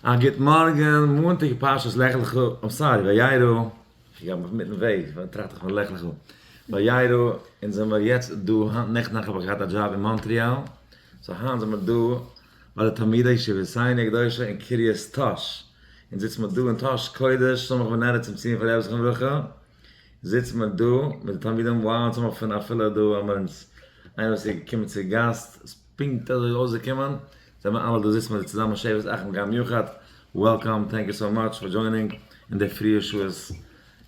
א גוט מארגען, מאנטאג פרשת לך לך, איים סארי, וירא, איך האב מיך מיטן וועג, פארדעם טראכט איך פון לך לך, וירא, אונז זעמער יעצט דא, היינט נעכטן נאכט האב איך געהאט א דזשאב אין מאנטריאל, סאו היינט זעמער דא ביי די תלמידי ישיבתינו הקדושה אין קרית טאהש, אונז זיצן מיר דא אין טאהש קודש סמוך ונראה צום ציון פון רבי זכרון לברכה, זיצן מיר דא מיט די תלמידים, וואו אונז האבן אפילו דא האבן מיר אונז איינער וואס איז געקומען צו גאסט, פונקט אזוי אויסגעקומען, זיי האבן אלע געזיצט מיט די צוזאמען שבט אחים גאר מיוחד, וועלקאם, טענק יו סאו מאטש פאר דזשוינינג אין די פריע שעות,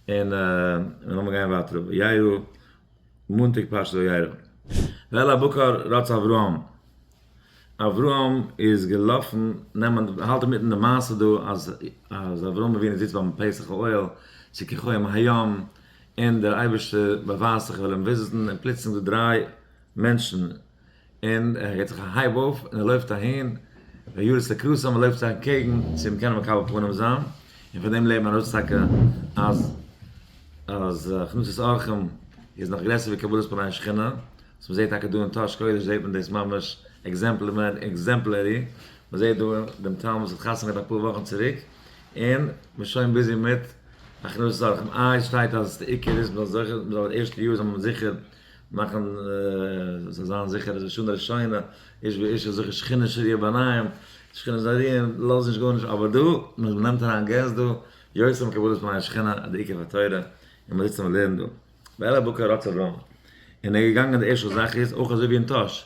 און לאמיר גיין ווייטער ר' יאיר'ל, מאנטאג פרשת וירא, ואל הבקר רץ אברהם, אברהם איז געלאפן נעמען, האלט אינמיטן די מעשה דא אז אברהם אבינו זיצט ביים פסח אוהל, צו כחוהמ הים, און דער אייבערשטער באווייזט זיך ער וויל אים וויזיטן, און פלוצלינג דא דריי מענטשן, און ער געט זיך א הייב אויף און ער לויפט אהין, ר' יואל איז צעקראסען און מען לויפט זיך אנטקעגן צו אים קענען מקבל פנים זיין, און פון דעם לערנט מען אויס טאקע אז אז הכנסת אורחים איז נאך גרעסער ווי קבלת פני שכינה, וואס מען זעט טאקע דא אין טאהש קודש זעט מען דאס ממש עקזעמפלערי, מען זעט דא דעם טאלמוד וואס האט חתונה געהאט אפאר וואכן צוריק, און מען איז שוין ביזי מיט הכנסת אורחים, איי עס שטייט אז די עיקר איז מען זאל זוכה, מען זאל די ערשטע יאר זאל מען זיכער מאכן זיי זיין זיכער אז לשנה ראשונה איש ואישה זוכה שכינה שריה ביניהם, שכינה זאל רוען, לאז נישט גארנישט, אבער דא, מען נעמט אריין געסט דא, יוצא מקבלת פני השכינה די עיקר פאר תורה, און מען זיצט און מען לערנט דא. ואלה בוקר רצה רון. און ער איז געגאנגען די ערשטע זאך איז אויך אזוי ווי אין טאהש.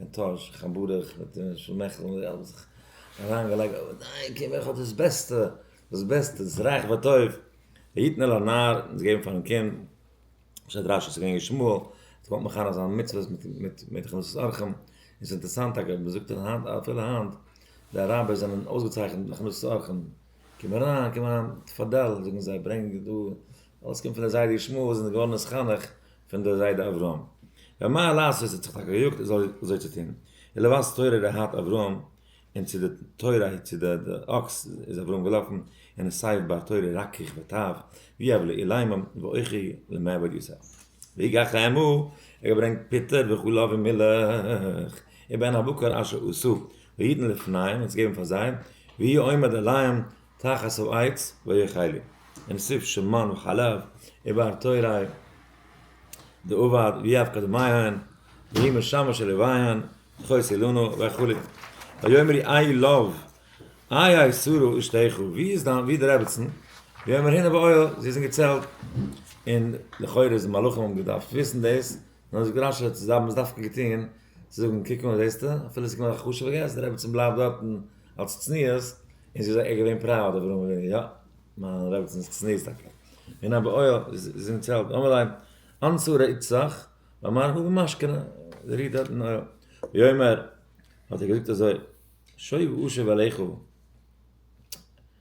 מיט טאש, כ'האב ברוך מיט שמעכל און זיי האבן זיך אריינגעלייגט, אוודאי קען וועלכע האט דאס בעסטע, דאס בעסטע, דאס איז רייך וטוב, ויתן אל הנער, און זיי געבן פארן קינד, בשעת רש י איז געווען ישמעאל, עס קומט מיך אהן אז זיין מצוות מיט מיט מיט הכנסת אורחים, און ס'איז אינטערסאנט טאקע, מען זאגט אז היינט אפילו היינט, די רבי'ס זענען אויסגעצייכנט מיט הכנסת אורחים, קום אריין, קום אריין, תפדל, זאגן זיי, ברענג דא, אלעס קומט פון דער זיידע ישמעאל וואס איז געווארן עס חנוך, פון דער זיידע אברהם ר' מאיר לייסער זיי האט זיך טאקע געיאגט ער זאל אזוי צו טון ער לבש תורה ר' האט אברהם און צו די תורה צו די אקס איז אברהם געלאפן און עס סייף בר תורה רקיך וטב ווי אב לאיליים ואוכי למעבד יוסף ויגח לעמו ער געברענגט פיטער וחלב און מילך איבער אן הבקר אשר עשו והיתן לפניהם און צו געבן פאר זיי ויהי עומד עליהם תחת העץ ויאכלו מן סוף שמן וחלב איבר תוראי דאבד ויאבקה דמעיין והיא משמש של לוויין תחוס אילנו וכו' ויאמר אי איי לאו איי איי סורו אשתיך ווי איז דיין ווי איז די רעבעצן ויאמר הנה באוהל זי איז אין געצעלט און לכאורה איז די מלאכים האבן געדארפט וויסן דאס און האבן זיך געראשעט זיי האבן עס דווקא געטוהן צו זאגן קוק נאר זעסטו אפילו ס'איז געווען א חשוב'ע געסט די רעבעצן בלייבט דארטן אלס צניעות, און זי איז זייער געווען פראוד אויף ר' אברהם אבינו, יא, מיין רעבעצינ'ס צניעות טאקע. און א בעוה ר, זי איז אין צעלט, אמר להם, אנצו רעיצעך, ואמר הוה משכנה, זי רוהט דארט אין אוהל. ויאמר, האט ער געזאגט אזוי, שוב אשוב אליך,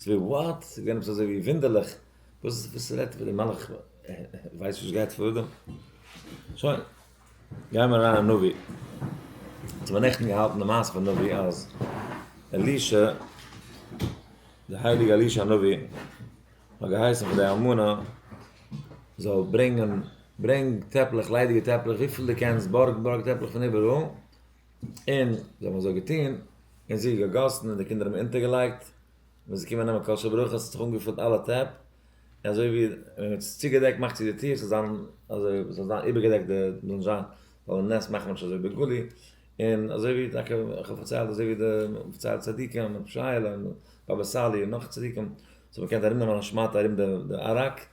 ס'ווי וואט? ס'געווען עפעס אזוי ווי ווינדערליך? וואס וואס רעדט ווי די מלאך ווייסט וואס גייט פאר דא? שוין. גיימער אריין אין נביא. צו מיר נעכטן געהאלטן די מעשה פון נביא אז אלישע די הייליגע אלישע נביא האט געהייסן פאר די אלמנה זאל ברענגען ברענג טעפלעך ליידיגע טעפלעך וויפיל די קענסט בארג בארג טעפלעך פון איבעראל און זיי האבן אזוי געטון, און זיך געגאסן, און די קינדער האבן אונטערגעלייגט, ווען ס'איז געקומען נעמען קאלשע ברכות האט זיך אנגעפולט אלע טעפ, און אזוי ווי ווען מ'האט עס צוגעדעקט מאכט צו די טיר ס'זאל זיין אזוי ס'זאל זיין איבערגעדעקט די מ'זאל זיין זאל די נס מאכן נישט אזוי בגלוי, און אזוי ווי טאקע איך האב פארציילט אזוי ווי די מ'פארציילט צדיקים, רב שייעלע, און באבע סאלי און נאך צדיקים, זיי האבן געקענט ארומנעמען א שמאטע ארום די ארק,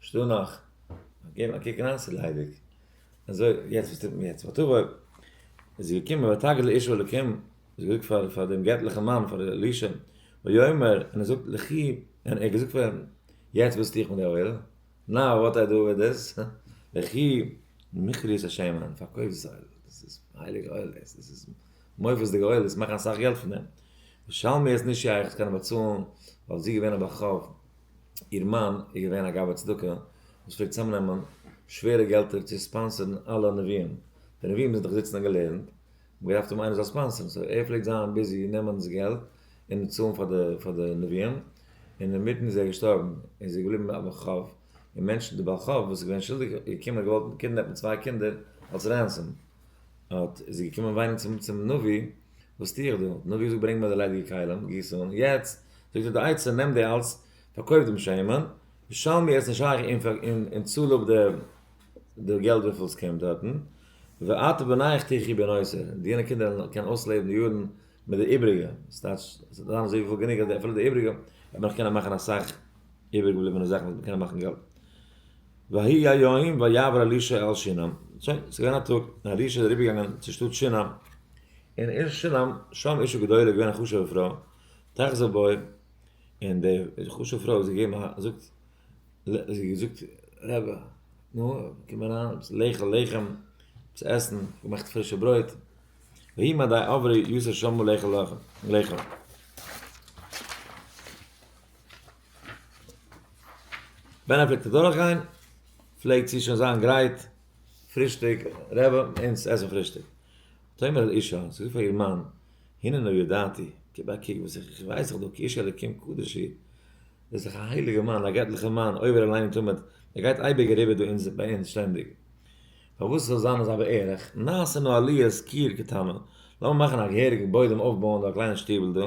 שטא נאך? געב א קוק אריין ס'איז ליידיג. אזוי, יעצט וואס טוט מען יעצט? ותבוא איז זי געקומען ותגד לאיש אלקים, זי האט געזאגט פאר פאר דעם געטליכן מאן פאר אלישע, ויאמר, און ער זאגט לכי, און ער האט געזאגט פאר אים, יעצט וואס טו איך מיט די אויל? נאו וואט איי דו וויט דיס? לכי, מכרי איז א שמן, און פארקויף דאס אויל, דאס איז הייליג אויל דאס, דאס איז מופת'דיג אויל, וועסט מאכן אסאך געלט פון דעם, ושלמי איז נישט שייך, עס קען ער באצאלן, ווייל זי איז געווען א בכור, איר מאן איז געווען א גאבד צדקה וואס פלעגט צוזאמנעמען שווערע געלטער צו ספאנסערן אלע נביאים, די נביאים מוזן דאך זיצן און געלערנט, האבן געדארפט האבן איינער זאל ספאנסערן, סאו ער פלעגט זיין ביזי נעמען דאס געלט און צאלן פאר די פאר די נביאים, און אינמיטן איז ער געשטארבן, און ס'איז געבליבן א בעל חוב, און מענטשן די בעל חוב וואס איז געווען שולדיג איז געקומען און געוואלט קידנעפן צוויי קינדער אלס רענסאם. אָט איז זי געקומען וויינען צום צום נביא, וואָס טו איך דאָ? דער נביא האָט געזאָגט, ברענג מיר די ליידיקע כלים, גיס אָן. יעצט, זאָגט איר, די עצה, נעם די אַלץ, פאַרקויף דעם שמן, משל מיר, עס איז נישט שייך, און פאַר, און, און צאָל אָפּ די, די געלט וויפיל עס קומט דאָרטן, ואתה בניך תחי' בין עושר, און דיינע קינדער וועלן קענען אויסלעבן די יאָרן מיט די איבעריגע, ס'טייטש, עס וועט זיין אַזוי וואָג גענוג, אַז די, אפילו די איבעריגע, וועט מען נאָך קענען מאַכן אַ סך איבער געבליבענע זאכן וואס מען קען מאכן געלט. ויהי היום ויעבר אלישע אל שונם, שוין ס'איז געווען א טאג און אלישע איז אריבער געגאנגען צו שטאט שונם, און אין שונם שם אישה גדולה איז געווען א חשובע פרוי, תחזה בו, און די חשובע פרוי האט זיך געגעבן א זאגט, זי האט געזאגט, רבי, נו, קום אריין, עפעס לעכל לחם, עפעס עסן, איך האב געמאכט פרישע ברויט, ויהי מדי עברי יוסף שמו לעכל לחם. ווען ער פלעגט אדורך גיין פלעגט זי שוין זיין גרייט פרישטאג, רעווע אונז עסן פרישטאג. ותאמר אל אישה, זי האט געזאגט פאר איר מאן, הנה נא ידעתי, גיב א קוק וואס איך ווייס איך דא, כי איש אלוקים קדוש היא, דאס איז דאך א הייליגע מאן, א געטליכע מאן, עובר עלינו תמיד, ער גייט אייביג אריבער דא אונז ביי אונז שטענדיג. פארוואס ס'זאל זיין אזא בערך, נעשה נא עליית קיר קטנה, לאמיר מאכן א געהעריגן בוידעם אויפבויען דא א קליינע שטיבל דא,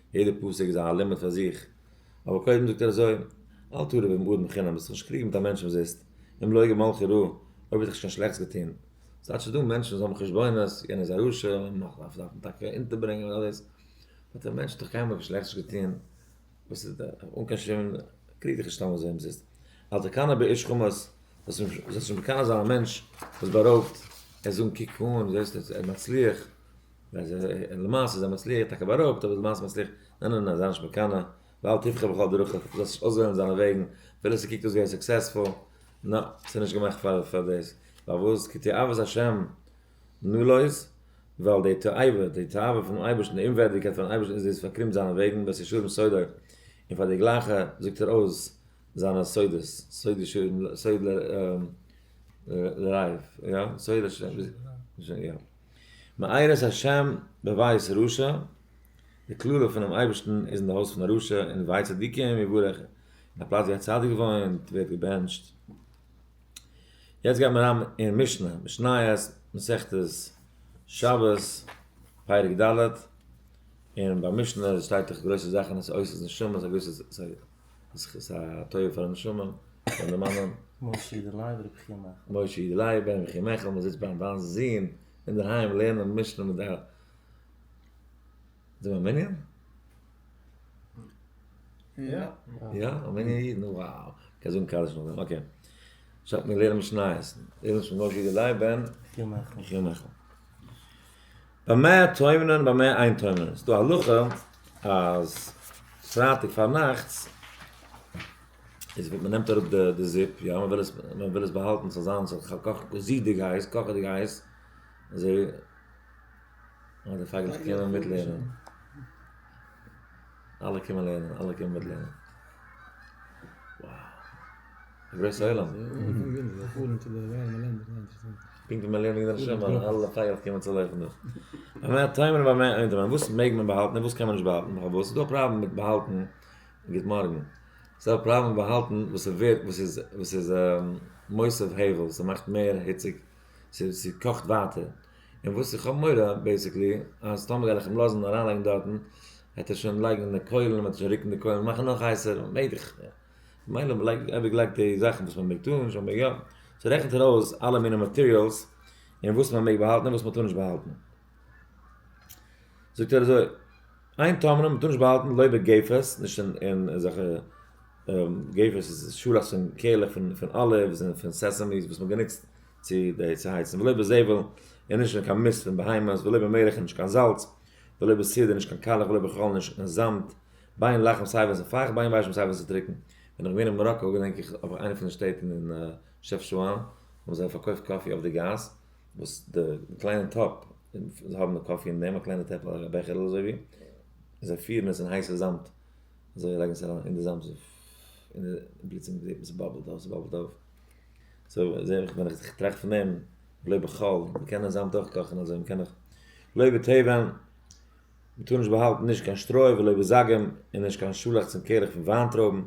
יעדע פסק איז א לימוד פאר זיך, אבער קודם זאגט ער אזוי, אל תרע ועם אדם בחינם, ביסט נישט קריג מיט א מענטש אומזיסט, אם לא יגע מלכי רע, אויב האט ער נישט קיין שלעכטס געטון, ס'טייטש ס'דא מענטשן וואס האבן חשבונות, יענער איז א רשע, מ'דארף אים טאקע אונטערברענגען און אלעס, אבער דער מענטש האט דאך קיינמאל קיין שלעכטס נישט געטון, וואס איז דער, אן קיין שום, קריג דיך נישט סתם אזוי אומזיסט, אל תקנא באיש חמאס, זאלסט נישט מקנא זיין א מענטש וואס בארויבט, ער זאגן קוק אן, זעסט ער מצליח. ווען זיי זענען למעשה זיי מצליח איז טאקע בארויבט אבער למעשה מצליח ניין ניין ניין זיי נישט מקנא ואל תבכה בכל דרכיך דו זאלסט נישט אויסוועלן זיינע וועגן אפילו עס קוקט אויס געווען סוקסעספול נא ס'איז נישט געמאכט פאר פאר דאס פארוואס כי תאוות השם נלויז ווייל די תאווה די תאווה פונעם אייבערשטן די אומווערדיגקייט פארן אייבערשטן איז דאס פארקרומט זיינע וועגן בעת ישרים סודו און פאר די גלייכע זאגט ער אויס זיינע סודות סוד ישרים סוד ל ר ל רייף יא סוד השם יא מאירת השם בבית רשע, די קללה פונעם אייבערשטן איז אין די הויז פון א רשע און אין בית צדיקים יבורך, אין א פלאץ ווי א צדיק וואוינט ווערט געבענטשט. יעצט גייט מען אריין אין משנה, משניות, מסכת שבת, פרק ד', און ביי משניות שטייט דאך גרויסע זאכן עס אויס איז נשמות א גרויסע עס איז א טובה פאר א נשמה פאר די מאמע. משה אידעלייב רבי חייא מעכל. משה אידעלייב בן רבי חייא מעכל מען זיצט ביים וויינס זון אינדערהיים לערנען משנה מיט די אלע. זענען מיר א מנין? יא. יא? א מנין אידן? וואו! קען זאגן קדיש נאך דעם. אקעי. שא מיר לערנען משניות. משה אידעלייב בן רבי חייא מעכל. ביי מאה טוימען און ביי מאה איין טוימען איז דא הלכה אז פרייטאג פארנאכטס איז ווען מ'נעמט אראפ די די זופ יא מ'וויל עס מ'וויל עס באהאלטן ס'זאל זיין ס'זאל זיך קאכן זידיג הייס קאכעדיג הייס אזוי אוי די פייגלעך קומען מיטלערנען אלע קומען לערנען, אלע קומען מיט לערנען. וואו! א גרויסע עולם. פונקט ווי מען לערנט וועגן די נשמה, אלע פייערס קומען צו לויפן דא. א מעט טיימער ביי מיין אינטער מיין וואס מעג מען באהאלטן און וואס קען מען נישט באהאלטן נאך א וואס איז דא א פראבלעם מיט באהאלטן גוט מארגן ס'איז דא א פראבלעם מיט באהאלטן וואס איז ווערט וואס איז וואס איז מוסף הבל ס'מאכט מער היציג ס'קאכט ווייטער און וואס איך האב מורא בעיסיקלי אז טאמער וועל איך אים לאזן אריין לייגן דארטן וועט ער שוין לייגן די קוילן וועט ער שוין רוקן די קוילן און מאכן נאך הייסער און מעג איך מילא מ'לייגט אייביג לייגט די זאכן וואס מ'מעג טון און שוין מעג יא סאו רעכנט ער אויס אלע מיני מאטעריאלס און וואס מ'מעג באהאלטן און וואס מ'טאר נישט באהאלטן זאגט ער אזוי איין טאמער מ'טאר נישט באהאלטן לויבער געיפערס נישט אין אין אזעלכע געיפערס איז שולעכטס און קעלעך פון פון אליווס און פון סעסעמיס וואס מ'האט גענוצט צו די צו הייצן ולא בזבל און נישט אין קיין מיסט פון בהמות ולא במלח און נישט קיין זאלץ ולא בסיד און נישט קיין קאלעך ולא בחול און נישט אין זאמד בין לחם סיי ווען ס'איז פייכט בין וויישמעל סיי ווען ס'איז טרוקן בין איך געווען אין מאראקא געדענק איך אויף איינע פון די שטעט אין שעפשאהן האבן זיי פארקויפט קאפי אויף די גאס וואס די קליינע טאפ זיי האבן די קאפי אין דעם א קליינע טעפל א בעכערל אזוי ווי זיי פירן עס אין הייסע זאמד אזוי לייגן עס אריין אין די זאמד און פלוצלינג זעט מען ס'באבלט אויף ס'באבלט אויף. סאו זעה איך ווען איך זיך טראכט פון דעם בלויב איך קאלד, מען קען דען זאמד אויך קאכן אזוי, מען קען דאך לוי' בטבען, מען טאר נישט באהאלטן נישט קיין שטרוי ולא בזגים און נישט קיין שאלעכץ און קעלעך פון וויינטרויבן,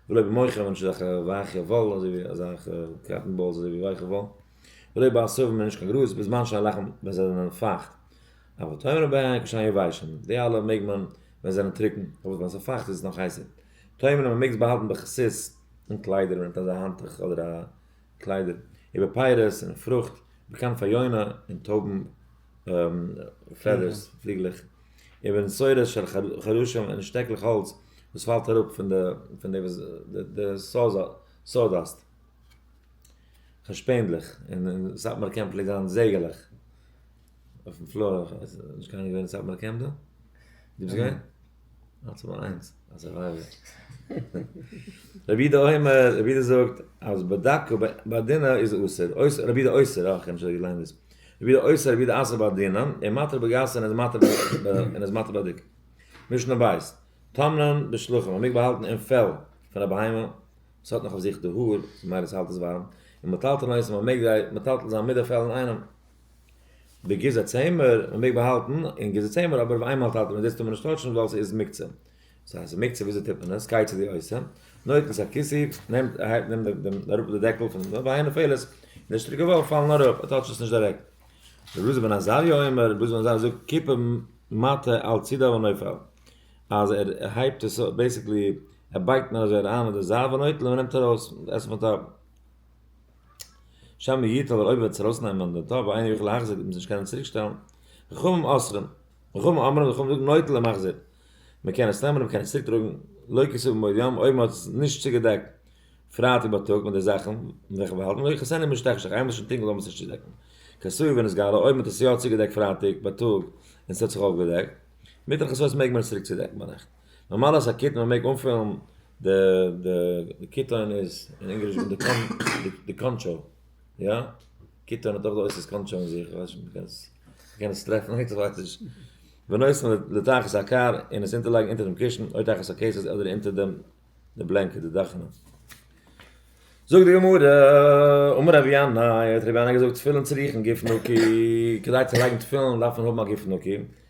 ולא במוחין ווען נישט אזעלכע ווייכע וואלן אזוי ווי אזעלכע קאטן באלס אזוי ווי ווייכע וואלן, ולא בעשבים און נישט קיין גראז בזמן שאין לחם ווען זיי זענען פייכט, אבל טעימה לבהמה כשהן יבשות, די אלע מעג מען ווען זיי זענען טרוקן, פארוואס ווען עס איז פייכט איז עס נאך הייסער, טעמים אז מ'מעג עס באהאלטן בכסות אין קליידער ווען מ'האט אזא האנטוך אדער א קליידער איבער פיירות און פרוכט בעקאנט פאר יונה און טויבן פעדערס פליגלעך איבער נסורות של חרושים און שטעקלעך האלץ וואס פאלט אראפ פון די פון די די סאדאסט שפענדלעך און אין סאטמאר קעמפ פלעגט זיין זייגערלעך אויפן פלאר, נישט קיינער געווען אין סאטמאר קעמפ דא? דו ביסט געווען? אלץ נאר איינס א סורווייווער. רבי איד האומר, רבי איד זאגט אז בדקו ביי דינא איז אסור, אויסער רבי איד אויסער, אה כ'האב שוין געליינט דאס, רבי איד אויסער רבי איד אסר ביי דינא, און מתיר בגסה און איז מתיר און איז מתיר ביי דיק. משנה בית, טמנ'ן בשלוחים, מ'מעג באהאלטן אין פעל פון א בהמה וואס האט נאך אויף זיך די האר, ממילא ס'האלט עס ווארעם, און מטלטלין אויסער, מ'מעג זיי מטלטל זיין מיט די פעל אינאיינעם. די גזע צעמער מען מעג באהאלטן אין גזע צעמער אבער אויף איינמאל טאטע מיט דאס טאר מען נישט טויטשן ווייל ס'איז מוקצה ס'איז א מוקצה וויאזוי טוט מען עס גיי צו די עושה נויטן ס'א כיסי נעמט אהייב נעמט דעם דעם אראפ די דעקל פון דעם ביי איינע פעלער די שטריקע וואלף פאלן אראפ ער טויטשט עס נישט דירעקט רבי אלעזר בן עזריה אומר רבי אלעזר בן עזריה זאגט קיפע מטה על צידה ונופל אז ער הייבט עס אויף בעיסיקלי ער בייגט נאר אזוי אריין אין די זייט ונוטל און מען נעמט ארויס עס פון טאפ. שם העיר ט אבער אויב וועט עס ארויסנעמען די טאפ ואינו יכול להחזיר וועט מען עס נישט קענען צוריק שטעלן, חכמים אוסרים, חכמים אומרים, חכמים זאגן נוטה למחזיר, מען קען עס נעמען און מען קען עס צוריק טראגן, לא כסו במועד יום, אויב מען האט עס נישט צוגעדעקט פרייטאג בייטאג מיט די זאכן וועלכע מיר האלטן, לא יכסה עיני משתכחה, איינמאל עס איז שוין טונקל זאל מען עס נישט צודעקן, כסוי ווען עס געהאלע, אויב מען האט עס יא צוגעדעקט פרייטאג בייטאג און עס האט זיך אויפגעדעקט, מיט די כסוי מעג מען עס צוריק צודעקן ביינאכט. נארמאל אז א קיט מען מעג אנפילן די די די קיטאן איז אין ענגליש ווען די קאן די די קאנטשאו יא קיטאן האט אויך די אויסערס קאנטשאו אין זיך כ'ווייס נישט אויב מ'קען עס מ'קען עס טרעפן אויב כ'ווייס נישט בנוסף לתחת הקאר און עס אונטערלייגן אונטער דעם קושן אוי תחת הכסת אדער אונטער דעם די בלענקעט די דאכענע זאגט די גמרא אמר רבי ינאי האט רבי ינאי געזאגט תפילין צריכין גוף נקי כדי צו לייגן תפילין דארף מען האבן א גוף נקי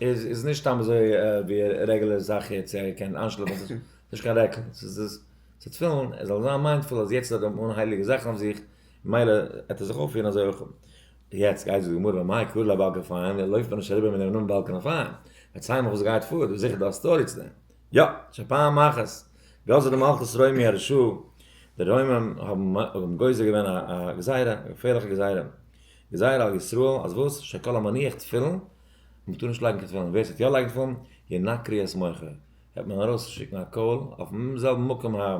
איז איז נישט סתם אזוי ווי א רעגולער זאך יעצט צו ער קען איינשלאפן ס'איז נישט קיין רעקל ס'איז דאס צו תפילין ער זאל זיין מיינדפול אז יעצט האט ער אן הייליגע זאכן אויף זיך מילא עט ער זיך אויפפירן אזוי אויך יעצט גייט זאגן גמרא מאי קרא לה באלקען פיין ער לויפט מען נישט אריבער מינעם נאמען באלקען אויף פיין פארציי מיך וואס גייט פאר דא איז זיכער דא א סטארי צו דעם יא שוין פאר מחס גזר די מלכות רומי הרשעה די רוימים האבן גוזר געווען א גזירה א געפערליכע גזירה גזירה על ישראל אז וואס שכל המניח תפילין מען טאר נישט לייגן קיין תפילין, ווער ס'וועט יא לייגן תפילין, ינא קריאת מוחא, וועט מען ארויס שיקן א קול אויפן זעלבן מקום ה,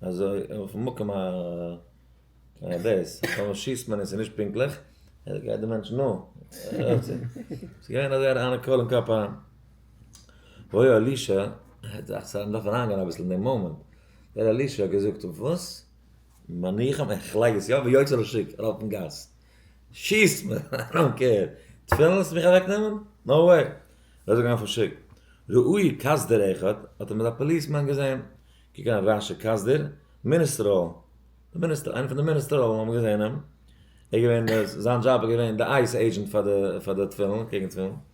אזוי אויפן מקום ה דאס, טאמער שיסט מען און ס'איז נישט פונקטליך, אזוי גייט דער מענטש נא, ס'איז געווען אזוי אריין א קול אין קאפ א, וואוי אלישע, דאכט זיך אז מ'דארף אריין גיין אביסל אין דעם מאמענט, וואוי אלישע האט געזאגט וואס? מניחם, איך לייג עס יא, ויוצא לשוק, ארויף אין גאס, שיסט מיר, איי דאנט קעיר. תפילין וועסטו מיך אוועק נעמען? נאו וועי. ער איז אויך געווען פארשיקט. ראי' קאסדער אחד, האט אים אזא פאליס מאן געזעהן. קוק אן ראשע קאסדער, מיניסטראלן. די מיניסטער, איינער פון די מיניסטראלן האבן געזעהן אים. ער איז געווען, זיין דזשאב איז געווען די אייס עידזשענט פאר די תפילין, קעגן תפילין.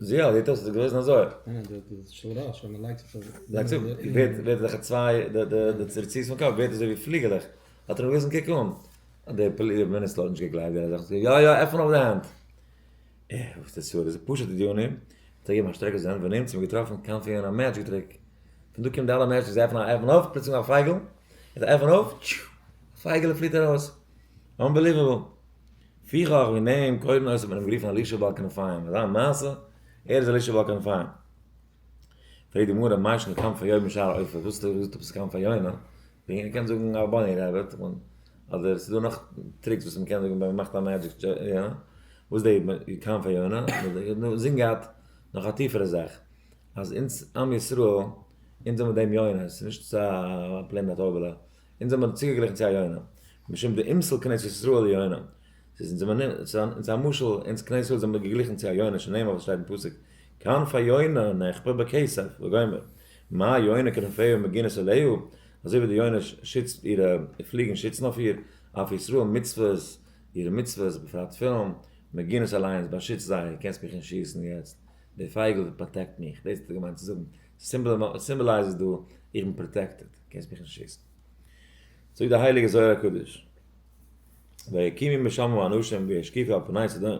זי א, דאס איז געוועזן אזוי. לייגט צו, ווערט ווערט די צוויי די צורצוס פון קאפ ווערט אזוי ווי פליגעלעך. האט ער אים געוויזן קוק אן. די פאליס מיניסטער האט נישט געגלייבט ווען ער זאגט אים יא יא עפן אויף די הענט. ער די סוד איז פשוטע דיונים. האט ער געגעבן א שטרעק אויף זיין הענט ווען אונז האבן געטראפן קאנפי און א מעדזשיק טריק. פון דא קומט די אלע מעדזשיק זיי עפענען א עפען אויף פלוצלונג א פייגל. ער עפענט אויף, טשו! א פייגעלע פליט ארויס. אנבעליוועבל! פיכך ווי נעהן קודם אויס האט מען אים גערופן אלישע בעל כנפיים אזא מעשה ער איז אלישע בעל כנפיים פרעגט די גמרא מה ישנו כנפי יונה משאר העופות וואס האט ער געזאגט עפעס כנפי יונה ווי ער קען זאגן א באני רעביט אדער עס איז דא נאך טריקס וואס מען קען זאגן ווען מען מאכט א מעדזשיק טשענט וואס די כנפי יונה זינגען געהאט נאך א טיפערע זאך אז אונז עם ישראל אונז האבן דעם יונה עס איז נישט א פלעין א טויבעלע. אונז האבן מיר צוגעגליכן צו א יונה, משום דאימסל כנסת ישראל יונה, ס'איז אונז א מנין, ס'אונז א משל, אונז כנסת ישראל זעמיר געגליכן צו א יונה שנאמר וואס שטייט אין פסוק כנף היונה נחפר בכסף וגומר מה יונה כנפיו מגינס עליה, אזוי ווי די יונה שיצט אירע פליגן שיצן אויף איר, אויף ישראל מצוות, אירע מצוות, בפרט תפילין, מגינס עליה אונז באשיצט זיי, קענסט מיך נישט שיסן יעצט, די פייגל פראטעקט מיך, דאס האט ער געמיינט צו זאגן, סימבאלייז איז דא איך בין פראטעקטעד קענסט מיך נישט שיסן זאגט די הייליגע זוהר הקדוש ויקימו משמים אנשים וישקיפו על פני שדה ר'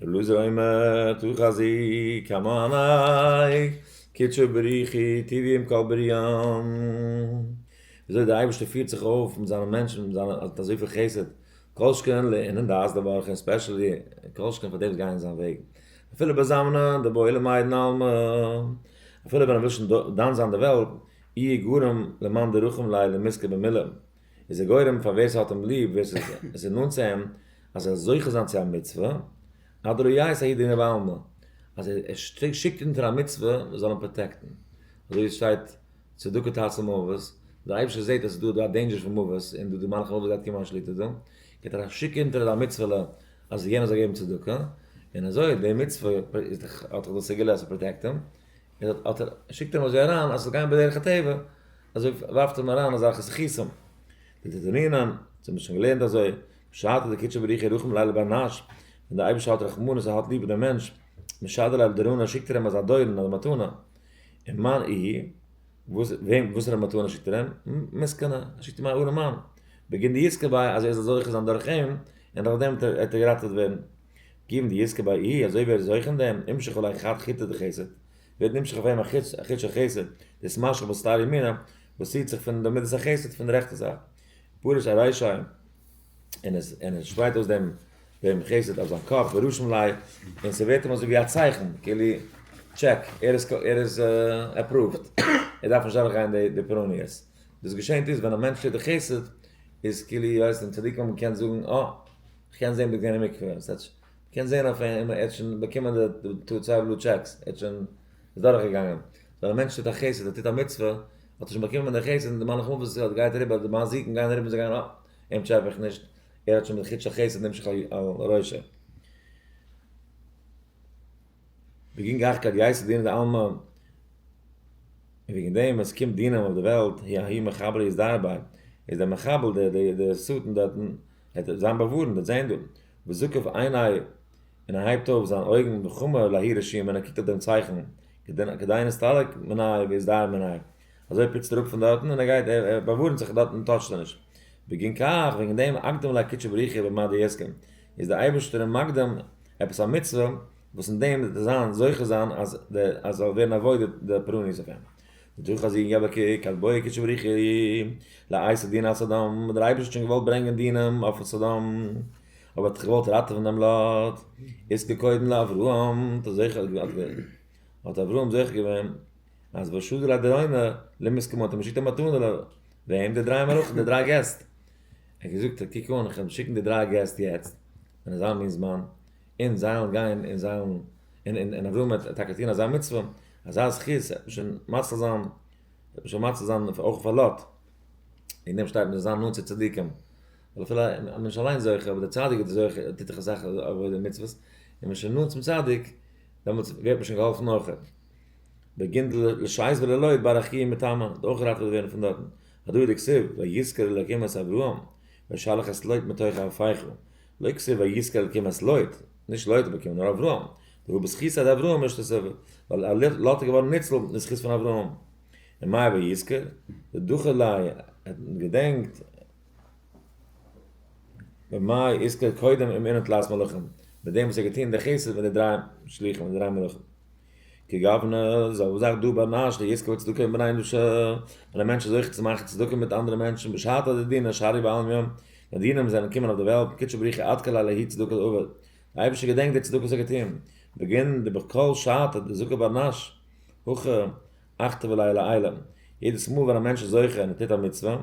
אלעזר אומר טו חזי כמה עניי קדשו בריחי טבעי עם כל בריאם וויאזוי די אייבערשטער פירט זיך אויף מיט זיינע מענטשן מיט זיינע האט אזויפיל חסד כל שכן לענין דעת דבר כ ספעשעלי כל שכן פאר די וואס גייען אין זיין וועג אפילו ביי זאמנא די בויעלע מיידן עלמא, אפילו ביי נבשן דן זיין די וועלט, אי איז גורם למאן דרחום ליה למזכה במילה, איז ער גורם פאר ווער ס'האט אים ליב, ווער ס'איז נאנט צו אים, אז ער זאל זוכה זיין צו א מצוה, עד ראיית העידנא בעלמא, אז ער שיקט אונטער א מצוה מען זאל אים פראטעקטן, אזוי ווי עס שטייט צדקה תעשה מוות, דער אייבערשטער זעט אז ס'איז דא דא א דעינדזשער פון מוות, און דא די מלאך המוות גייט קומען אן שליטה דא, גייט ער שיקן אונטער א מצוה'לע אז יענער זאל געבן צדקה, און אזוי די מצוה איז דאך האט דאך דאס סגולה אז ס'פראטעקט אים, און אט אט שיקט אים אזוי אריין אז ס'זאל גיין בדרך הטבע, אזוי ווארפט אים אריין אזעלכע זכותים. די די ענינען, אונז האבן שוין געלערנט אזוי, בשעתו דקדשו בריחי רחם לילה בר נש, ווען די אייבערשטער האט רחמנות ער האט ליב דעם מענטש, משדל אל דארנה שיקט ער אים אזא דורן אזא מתנה, און מאן איהי, וואס ר' מתנא שיקט ער אים? מסקנא, ער שיקט אים א ארעמאן, בגין די יזכה ביי אז ער זאל זוכה זיין דורך אים, און דורך דעם וועט ער געראטעוועט ווערן. גיוון די יזכה ביי אי, אזוי ווער איז זוכה אין דעם, נמשך עליו חד חיטא דחסד, ווערט נמשך אויף אים א חיט של חסד, דאס משך בסתר ימינא, וואס ציעט זיך פון די מידת החסד פון די רעכטע זייט, פרש ארישיים, און עס און עס שפרייט אויס דעם דעם חסד אויף זיין קאפ ורושם ליה, און ס'ווערט אים אזוי ווי א צייכן, כאילו, טשעק, ער איז ער איז עפראווד, ער דארף נישט דורכגיין די די פרעניעס. דאס געשענט איז ווען א מענטש טוט די חסד, איז כאילו ווי הייסט דעם צדיק מאמע קען זאגן, אה, כ'קען זען דו ביסט געווען אין מקווה, און ס'הייטש, מ'קען זען אויף אים, ער האט שוין באקומען די די צוויי בלו טשעקס, ער האט שוין, איז דורכגעגאנגען. ווען א מענטש טוט א חסד, ער טוט א מצוה. האט ער שוין באקומען די חסד און די מלאך מוות זיך האט גייט אריבער די מזיקים גייען אריבער זיי גייען אה אים טשעפע איך נישט ער האט שוין די חוט של חסד נמשך על ראשו וגין גאך כד יעשה דינא דעלמא און וועגן דעם עס קומט דינא אויף די וועלט היה ההיא מחבל איז דארט ביי איז דער מחבל דער דער שטן דארטן זיין באווארענט וועט זען דא וזוקף עיני און ער הייבט אויף זיין אויגן בחמה להאיר את שיהם און ער קוקט אויף דעם צייכן, כדי נסתלק מן העיר ויסדר מן העיר, אזוי פיצט ער אפ פון דארטן און ער גייט, ער באווארנט זיך דארטן און טאטשט ער נישט. בגין כך, וועגן דעם, אקדים ליה קדשי בריחי במה דעסקן, איז דער אייבערשטער אים מקדים עפעס א מצוה, וואס אין דעם וועט ער זיין זוכה זיין אז עס זאל ווערן אוואוידעד די פרעניס אויף אים. ותו חזי יבא ק ק אז בויע קדשי בריחי לעיסה דינא על סדום, דער אייבערשטער האט שוין געוואלט ברענגען דינים אויף סדום, אויב האט ער זיך געוואלט ראטעווען דעם לאט, איז כקודם לאברהם האט ער זוכה געווען אויף דעם, האט אברהם זוכה געווען אז ושזר הדרימה למסכם האט ער געשיקט א מתנה ל וועם? די דריי מלאכים די דריי געסט, ער האט געזאגט קוק אן איך וועל שיקן די דריי געסט יעצט אין אזא מין זמן, און זיי וועלן גיין און זיי וועלן און און אברהם וועט טאקע טון אזא מצוה, אזא זכות וועט מען שוין מציל זיין, וועט מען שוין מציל זיין אויך פאר לאט, אין דעם שטייט מען זאל זיין נאנט צו צדיקים. ווייל אפילו אז מען איז נישט אליין זוכה, אבער דער צדיק איז דער זוכה, ער טוט דאך אסאך עבודה און מצוות, און מען איז שוין נאנט צום צדיק, דעמאלטס ווערט מען שוין געהאלפן אויך. בגינד לשי ז וללא יתברך כי היא מתאמא, האט אויך געראטעוועט ווערן פון דארטן. הדא דכסיב, ויזכר אלוקים את אברהם, וישלח את לוט מתוך אפיך, לא כסיב ויזכר אלוקים את לוט, נישט לוט האט באקומען נאר אברהם, דהוא בזכות עד אברהם אשתו, ווייל לוט איז געווארן ניצול אין זכות פון אברהם. און מאי ויזכר? ודוחה ליה, ער האט געדענקט. במאי יזכור קודם אים אינעם תלת מלכים, מיט דעם וואס ער האט געטון די חסד מיט די דריי שלוחים, די דריי מלכים. כגוונא איז אבער זאך דא ביי נאש די יזכור צדקה אין בני אנוש, ווען א מענטש איז זוכה צו מאכן צדקה מיט אנדערע מענטשן בשעתא דדינא שערי בעלמיא, ווען די דינים זענען געקומען אויף די וועלט, קודשא בריך הוא עד כלה להי' צדקת עובד, דער אייבערשטער געדענקט די צדקה וואס ער האט געטון, בגין דבקהל שעתא דזוקא ביי נאש, הוכחה אכטע ולילה עילם, יעדעס מאל ווען א מענטש איז זוכה און ער טוט א מצוה,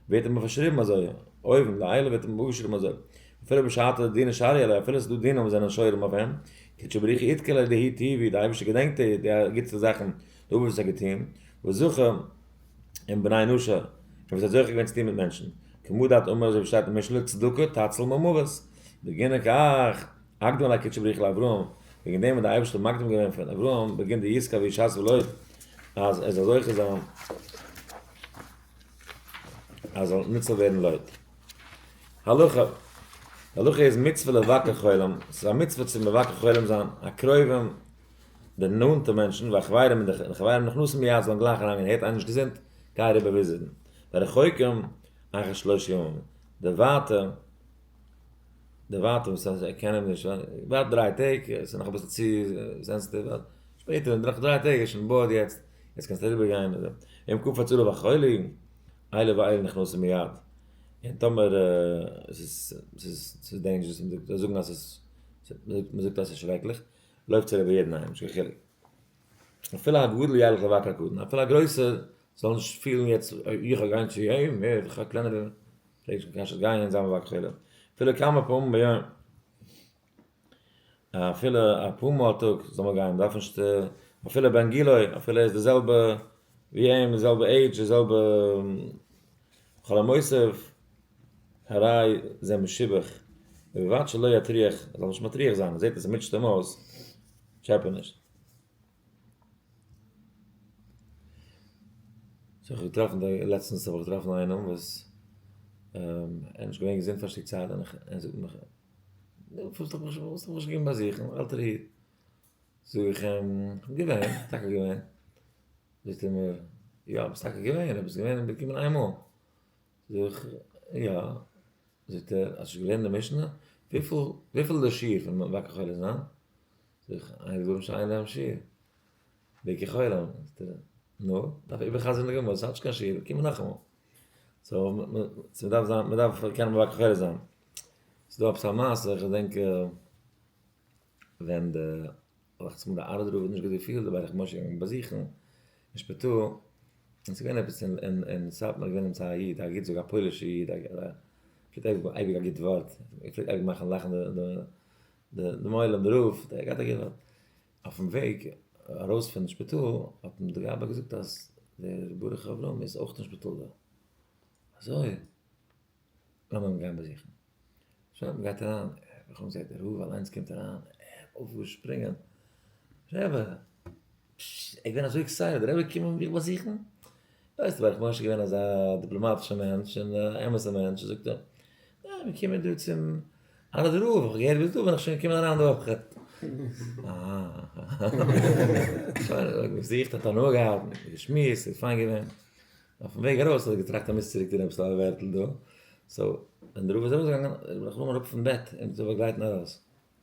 ווערט אים פארשריבן אזוי, אויבן, לעילה ווערט אים אפגעשריבן אזוי, אפילו בשעתו דינא שעריה ליה, אפילו עס איז דא דינא וואס זענען שוירים אויף אים, כד שבריך יתקל על ידי הי ט, ווי דער אייבערשטער געדענקט אים די גוטסטע זאכן, די עבירות וואס ער האט געטון, וזכה עם בני אנושה, און וואס ער האט זוכה געווען צו טון מיט מענטשן, כמו דאתמר אזוי ווי שטייט אין משלי, צדקה תצל ממוות, בגינע כ א. אקדמ א קוטשע בריך לאברהם, וועגן דעם האט די אייבערשטער מקדים געווען פון אברהם בגין די יזכה וישס ולויב אז ער זאל זוכה זיין אז ער זאל ניצל ווערן לויב הלכה, די הלכה איז מצוה לבקר חולים, ס'איז א מצוה צו מבקר חולים זיין, הקרובים די נאנטע מענטשן והחברים און די חברים נכנסים מיד זאלן גלייך אריינגיין הערט איינער נישט געזונט גיי אריבער וויזיטן, והרחוקים אחרי שלוש ימים די ווייטע. די ווייטע וואס אז ער קען אים נישט ווארט דריי טעג ס'איז נאך אביסל צו סענסעטיוו ווארט שפעטער נאך דריי טעג איז שוין בארד יעצט יעצט קענסטו אריבער גיין אם כפו הצלה והחולי אלה ואלה נכנסים מיד און טאמער ס'איז ס'איז ס'איז דעינזשערעס און זיי זאגן אז ס'איז מ'זאגט אז ס'איז שרעקליך לויפטס אריבער יעדן איינעם נישט קיין חילוק אפילו א גדול ילך לבקר קודם אפילו א גרויסער זאל נישט פילן יעצט איך גיי גיין צו אים איך א קלענערער פלעגט שוין קיין שט גיין אין זיין בבק תפלה אפילו כמה פעמים ביום, אפילו אפאר מאל א טאג זאל מען גיין דארף נישט אפילו בן גילו אפילו ער איז די זעלבע ווי אים די זעלבע עידזש די זעלבע כל המוסיף הרי זה משובח ובלבד שלא יטריח ער זאל נישט מטריח זיין ער זעט אז עס מוטשט אים אויס טשעפעניש. זיך האב איך געטראפן דא לעצטנס האב איך געטראפן איינעם וואס ער איז נישט געווען געזונט פאר א שטיק צייט און ער זאגט מיך נו פארוואס האסטו מיך נישט געקומען באזוכן נאך אלטער איד זאג איך אים כ'בין געווען, טאקע געווען זאגט ער מיר יא ביסט טאקע געווען אבער ביסט געווען געקומען איין מאל זאג איך יא זאגט ער האסט נישט געלערנט די משנה? וויפיל וויפיל איז די שיעור פון וואקער כל הזמן? זיך איינגראבן שיין אינעם שיעור. די כחולם זאגט ער, נו, דארף איך איבערחזר'ן די גמרא, עס איז נישט קיין שיעור, קום נאכאמאל. סאו, מ'דארף זיין, מ'דארף קענען בבא כחולה זיין. ס'איז דא עפעס א מעשה, איך געדענק ווען די, דאכצעך מיר די ארעד רב האט נישט געהאט די פיעלד, אבער איך משה געגאנגען באזוכן אין שפיטאל, און ס'איז געווען עפעס אין סאטמאר געווען אמצעי א איד, א גוט זאגער, א פוילישע איד, ער פלעגט אייביג האבן אייביג א גוט ווארט, ער פלעגט אייביג מאכן לאכן די די מוהל ם רב דער גייט אגעוו האט אויפן וועג ארויס פון שפיטאל האט אים די גבאי געזאגט אז דער ברך אברהם איז אויך אין שפיטאל דא אזוי לאמיר אים גיין באזוכן שוין מען גייט אריין רחמ ז דער רב אליינס קומט אריין ער אויפגעשפרינגען רעבע! פששש, איך בין אזוי עקסייטעד, דער רבי קומען מיך באזוכן? ווייסט ווער איך משה געווען אזא דיפלאמאטישע מענטש און א אמת'ע מענטש זאגט ער, ניין מיר קומען דא צום אנא דרא האב איך געהערט ביסט דא בין איך שוין געקומען אריין די וואך כ'האב געזוכט האט הנאה געהאט מיט מיר געשמועסט ס'איז פיין געווען אויפן וועג ארויס האב איך געטראכט אז מוזט צוריקטון עפעס א ווערטל דא, סאו ווען דער רבי איז ארויסגעגאנגען איז רבי נחום אראפ פון בעט אים צו באגלייטן ארויס.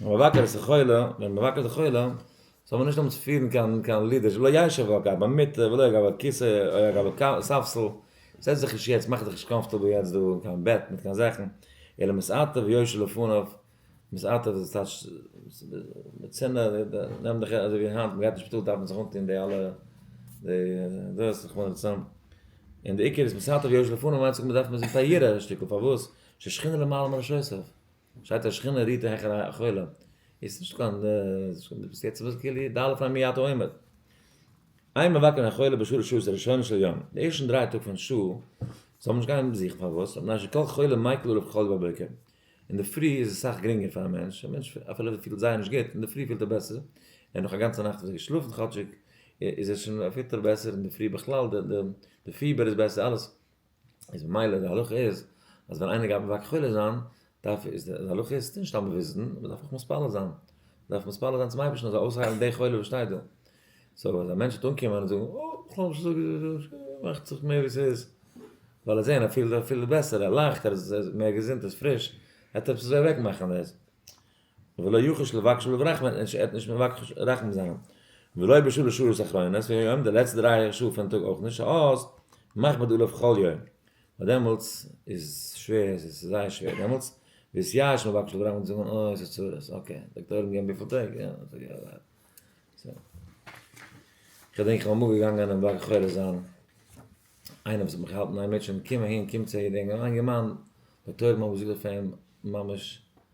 מבקר את החולה, ווען מען מבקר את החולה, זאל מען נישט האבן צו פירן קיין קיין לידער, שלא ישב אגב במיטה ולא אגב הכיסא או אגב הספסל, זעץ דיך נישט יעצט, מאך דיך נישט קאמפארטעבל יעצט דא אין קיין בעט מיט קיין זאכן, אלא מסעתיו וישב לפניו, מסעתיו איז טייטש די צינער, נעם דיך אזוי ווי היינט, מען גייט אין שפיטאל דארף מען זיך אנטון די אלע די דאס רחמנא לצלן, און די עיקר איז מסעתיו וישב לפניו מיינט זיך מען דארף מען זיך פאר יראה א שטיקל, פארוואס? ששכינה למעלה מראש יוסף. שטייט א שכינה רוהט העכער א חולה, איז נישט קיין שכינה ביסט יעצט וואס כאילו די אלע פאר מי אתה אומר. איין מבקר א חולה בשלש שעות הראשונות של יום, די ערשטן דריי טאג פון שעה זאל מען נישט גיין באזוכן פארוואס? מפני שכל חולה מייקל עליו כחול בבוקר, אינדערפרי איז עס סאך גרינגער פאר א מענטש, א מענטש אפילו ער פילט זייער נישט גוט אינדערפרי פילט ער בעסער, ער האט נאך א גאנצע נאכט אזוי געשלאפן כאטשיג איז ער שוין ער פילט ער בעסער אינדערפרי בכלל די פיבער איז בעסער אלעס. איז ממילא די הלכה איז אז ווען איינער גייט מבקש חולה זיין דארף איז די הלכה איז ס'איז נישט סתם באוויזן מען דארף אויך מתפלל זיין מען דארף מתפלל זיין צום אייבערשטן אז ער זאל אויסהיילן די חולה וואס שטייט דא סאו אז א מענטש וועט אנקומען און זאגן אה כ'האב נישט געזאגט מאכט זיך מער ווי ס'איז ווייל ער זעהן ער פילט ער פילט בעסער ער לאכט ער איז מער געזונט ער איז פריש ער טוט עפעס אוועקמאכן דאס ולא יחוש לבקשו לברחם ער האט נישט מבקש רחמים זיין ולא בשו ל שורות אחרונות פון יום די לעצטע דריי שעה פון טאג אויך נישט שעות מכבד עליו כל יום ווייל דעמאלטס איז שווער עס איז זייער שווער דעמאלטס ביז יאש מבקש לברחם זאגט מען אוי עס איז צרות אקעי דאקטאר האט געגעבן וויפיל טעג יא אזוי יא אזוי כ'דענק כ'בין אמאל געגאנגען אינעם בלק חורש זיין איינער וואס האט מיך געהאלטן אין א מיטשען קום אהין קום צו איר דינגען א יונגערמאן די תורמים האבן געזאגט אויף אים ממש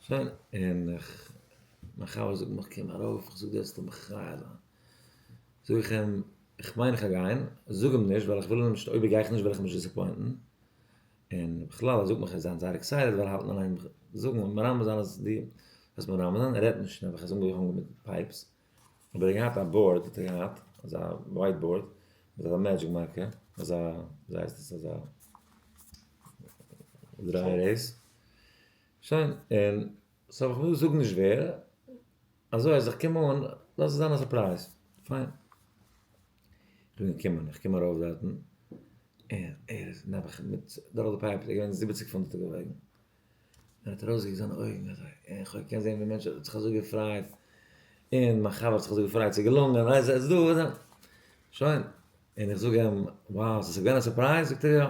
שוין, און איך, מיין חבר זאגט מיך קום ארויף, איך זאג דארפסטו מכריע זיין, זאג איך אים, איך מיין איך גיי גיין, זאג אים נישט ווייל איך וויל אים נישט, אויב איך גיי איך נישט וועל איך אים נישט דיסעפוינטן, און בכלל ער זאגט מיך ער זיין זייער עקסייטעד ווייל ער האלט אליין זאגן און מרמז זיין אז די, וואס מרמז זיין, ער רעדט נישט נעבעך ער איז אנגעהאנגען מיט פייפס, אבער ער האט געהאט א באורד האט ער געהאט, אזא ווייט באורד, מיט אזא מעדזשיק מארקער, אזא, וויזייהייסטעס אזא דרייער דאס. שיין, און סאו כ'וועל זאגן נישט ווער, אזוי אז איך קום אן, לאז עס זיין א סורפרייז, פיין. כ'בין געקומען, איך קום ארויף דארטן, און ער איז נעבעך מיט דורך די פייפ, ער איז געווען זיבעציק פונט האט ער געוואויגן, און האט ארויסגעקוקט זיינע אויגן אזוי, און כ'האב געקענט זען ווי מענטש האט זיך אזוי געפרייט, און מיין חבר האט זיך אזוי געפרייט, ס'איז געלונגען, ווייסט זיך, עס איז דא, שוין, און איך זאג אים, וואו, ס'איז געווען א סורפרייז? זאגט ער יא.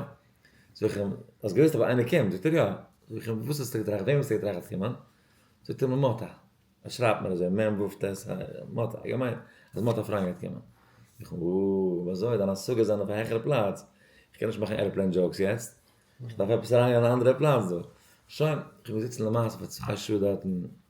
זאג איך אים, האסט געוואוסט אז איינער קומט? זאגט ער יא. זאג איך אים, וואס האסטו געטראכט? וועם האסטו געטראכט וועט קומען? זאגט ער מיר מאטא. ער שרייבט מיר אזוי מ ו ט א, מאטא. איך האב געמיינט אז מאטא פריינד גייט קומען. זאג איך אים, או, וויאזוי? דיינע השגות זענען אויף א העכערע פלאץ. איך קען נישט מאכן ערעפלעין דזשאוקס יעצט. איך דארף עפעס אריינגיין אין א אנדערע פלאץ דא. שוין, איך בין געזיצן למעשה פאר צוויי שעה דארטן.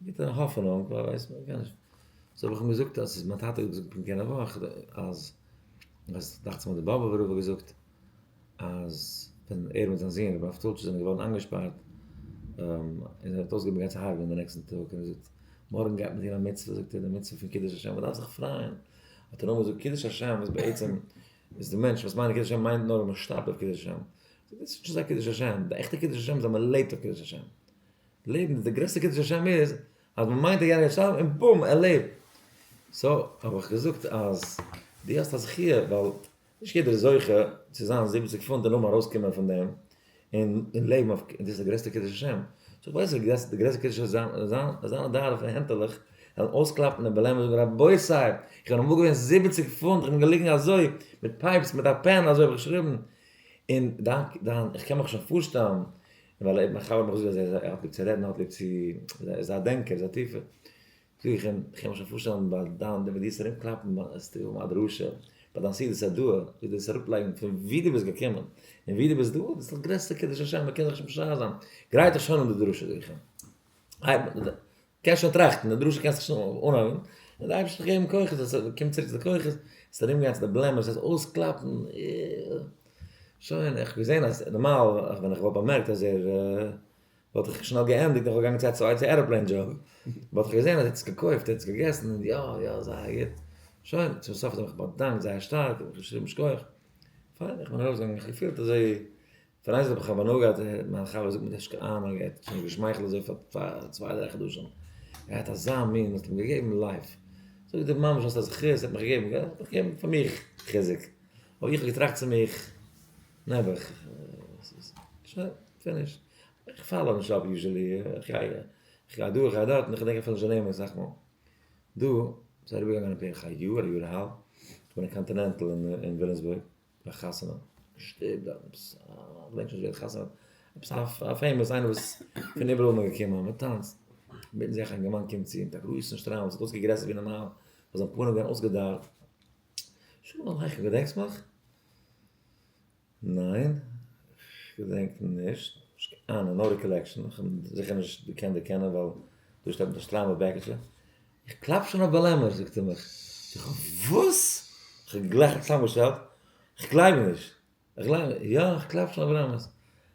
מיט א האפענונג, ווייל ווייסט מען קען נישט. סאו האב איך אים געזאגט אז ס'איז מיין טאטע האט געזאגט פונקט יענע וואך אז אז דאכצעך מיט די באבע ווארוב האט געזאגט אז ווען ער מיט זיין זון רבי אבטולטש זענען געווארן איינגעשפארט און ער האט אויסגעהויבן געבן גאנצע הרג'ענען די נעקסטן טאג און ער זאגט מארגן גייט מען טון א מצוה זאגט ער די מצוה פון קידוש השם מ'דארף זיך פרייען האט ער נאר געזאגט קידוש השם איז בעצם איז די מענטש וואס מיינט קידוש השם מיינט נאר אז מ'שטארבט אויף קידוש השם. דאס איז נישט אזא קידוש השם, די עכטע קידוש השם איז אז מ'לעבט אויף קידוש השם. לעבן די גרעסטע קידוש השם איז אז מען מיינט דער יענער איז שטארבן און בום ער לעבט. סאו האב איך געזאגט אז דו האסט א זכי' ווייל נישט יעדער איז זוכה צו זיין זיבעציק פונט און נאכדעם ארויסקומען פון דעם און לעבן אויף און דאס איז די גרעסטע קידוש השם. סאו איך ווייס אז די גרעסטע קידוש איז זיין די ארבע הענטעלעך זאלן אויסקלאפן און בלעם און זאגן רבותי איך בין אמאל געווען זיבעציק פונט איך בין געליגן אזוי מיט פייפס מיט א פען אזוי האב איך געשריבן און דיין איך קען מיך שוין פארשטעלן ווייל ער האט מיך אויך געזאגט אז ער האט ווי צו רעדן ער האט ווי צו ער איז א דענקער ער איז א טיפער זאג איך אים איך קען מיר שוין פארשטעלן ביי דיין די וועסט ארום קלאפן וועסטו האבן א דרשה ביי דיין סידיס א דעה וועסט דאס אראפ לייגן פון ווי דו ביסט געקומען און ווי דו ביסט דא דאס איז דאך גרעסטע קידוש השם מען קען זיך שוין משער זיין גרייט דיך שוין אן די דרשה זאג איך אים קענסט שוין טראכטן, די דרשה קענסט שוין אנהייבן, און די אייבערשטער זאל גיבן כוחות, אז עס קומט צוריק צו די כוחות, עס ארום גיין צו די בלעמערס, עס אויסקלאפן, שוין, איך האב געזען אז נארמאל ווען איך וואלט באמערקט אז ער, וואלט איך שנעל געענדיגט, איך וואלט געגאנגען צו א צווייטע עראפלעין דזשאב, וואלט איך געזען אז ער האט עס געקויפט, ער האט עס געגעסן, און יא, יא, זייער גוט, שוין, צום סוף האט ער מיך באדאנקט זייער שטארק, איך האב געשריבן שכוח, פיין, איך בין ארויסגעגאנגען, איך האב געפילט אזוי פארדייסט האב איך האב הנאה געהאט ווען מיין חבר זאגט מיר דשקע איין און ער האט שוין געשמייכלט אזוי פאר צוויי דריי חדשים ער האט אזא מין מ'האט אים געגעבן לייף זאגט ער ממש האסט א זכות ער האט מיך געגעבן געלט האט מיך געגעבן פאר מיך חיזוק אבער איך האב געטראכט צו מיך נעבעך שוין פיניש איך פאלאו נישט אפ יוזשעלי איך גיי דא איך גיי דארט און איך דענק אפילו נישט די נעמען אסאך מאל דא ס'איז אריבערגעגאנגען בערך א יאר א יאר אהאלב איך בין אין קאנטינענטל אין וויליאמסבורג ביי חתונה שטערט עפעס א מענטש וואס ווערט חתונה עפעס א פעימאס איינער וואס פון איבעראל איז מען געקומען מען טאנצט מיטן זיך א יונגערמאן קומט צו מיט א גרויסן שטריימל וואס האט אויסגעקוקט גרעסער ווי נארמאל וואס זיין פנים איז געווען אויסגעדארט שלום עליכם געדענקסט מיך? ניין כ'געדענק נישט אה נאו ריקאלעקשאן כ'האב זיכער נישט געקענט דערקענען ווייל דא שטייט מיט א שטריימל בעקיטשע איך קלאַפּ שוין אויף באַלעמער, זאָגט ער מיך. איך, וואָס? איך האָב גלייך צוזאַמענגעשטעלט, איך גלייב נישט! איך גלייב נישט! יאָ, איך קלאַפּ שוין אויף באַלעמערס!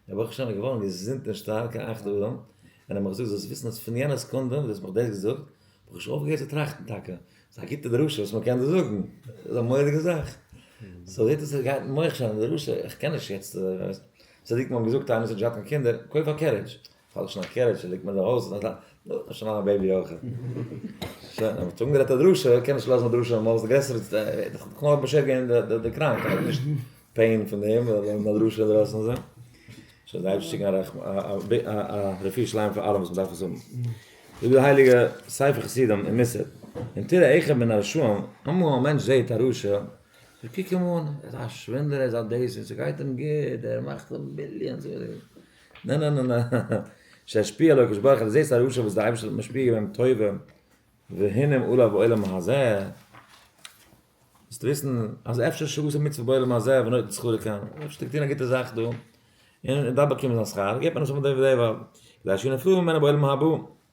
דער בחור-שיין איז געוואָרן געזונט און שטאַרק אַ אַכט אָדעם, און ער האָט מיך געזאָגט, זאָלסט וויסן, אַז פֿון יענער סעקונדע, וואָס דו האָסט מיך דאָס געזאָגט, האָב איך שוין אויפֿגעהערט צו טראַכטן. טאַקע, ס'איז אַ גוטע דרשה, וואָס מע קען דאָ זאָגן. ס'איז אַ מוראדיקע זאַך. סאָ, זעט אויס, עס גייט אין מוח שוין, די דרשה. איך קען נישט יעצט, ווייסט, צדיקים האָבן געזאָגט, איינער וואָס האָט נישט געהאַט קיין קינדער, קויף אַ קערידזש. פאלט שוין א קערעטש און ליגט מען אין די הויז, נאך א שנה א בעיבי אויך. שוין, מען האט אנגערעדט א דרשה, קען נישט לאזן א דרשה נארמאל, ס'איז גרעסער, כ'האב נאך באשערט געווען די קראנק, כ'האב נישט פעין פון דעם, ווייל די נאך דרשה אינדרויסן און אזוי. שוין זיי האבן שיקן א רפואה שלימה פאר אלע וואס מ'דארף עס האבן. זאגט דער הייליגע ספר חסידים אין מוסר, אם תראה אחד מן הרשעים, אמאל א מענטש זעט א רשע, זאגט קוק אים אן, ער איז א שווינדלער, ער איז א דעיס, ס'גייט אים גוט, ער מאכט ביליאנס. נע נע נע נע שישפיע עליו הקדוש ברוך הוא, זעסט א רשע וואס די אייבערשטער האט משפיע געווען טובה והנה עלה בעולם הזה, זאלסט וויסן אז אפשר שהוא עושה מצוה בעולם הזה ונותן שכרו לכאן, אפשר טוט ער א גוטע זאך דא און דארף באקומען זיין שכר, געבט מען נישט די וועד די וועד, כדי שיינפעו ממנו בעולם הבא.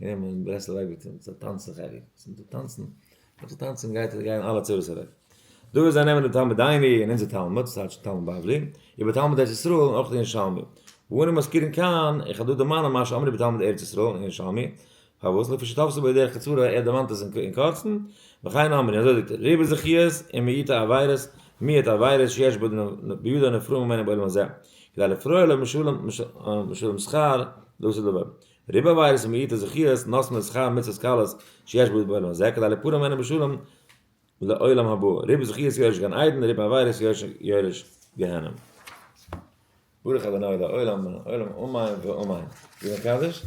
גייען מיר אין ברסלב אייביטער צו טאנצן חלק וואס מיט די טאנצן מיט די טאנצן גייט ער גייען אלע צרות אוועק דא איז זיי נעמען די תלמוד דייני אין אונזער תלמוד סאטש תלמוד בבלי איבער תלמוד ארץ ישראל און אויך די ירושלמי ואנו מזכירים כאן איך האב דא דערמאנען מה שאמר איבער תלמוד ארץ ישראל און ירושלמי פארוואס לפי שתפסו בידי דרך קצרה ער דערמאנט עס אין קורצן וכן אמרי אזוי זאגט ער ריבו זכיות און מיעוטע עבירות מיעוט עבירות שיש בידי הנפרע ממנו בעולם הזה כדי לפרוע לו משולם שכר דאס איז דער וועג ריבו עבירות ומיעוטו זכיות נושאים את שכר מצוות קלות שיש בו בעולם הזה כדי להיפרע ממנו בשלום לעולם הבא, ריבו זכיות יורש גן עדן ריבו עבירות יורש גיהנום. ברוך אדוני לעולם מן העולם אמן ואמן. זאגן א קדיש.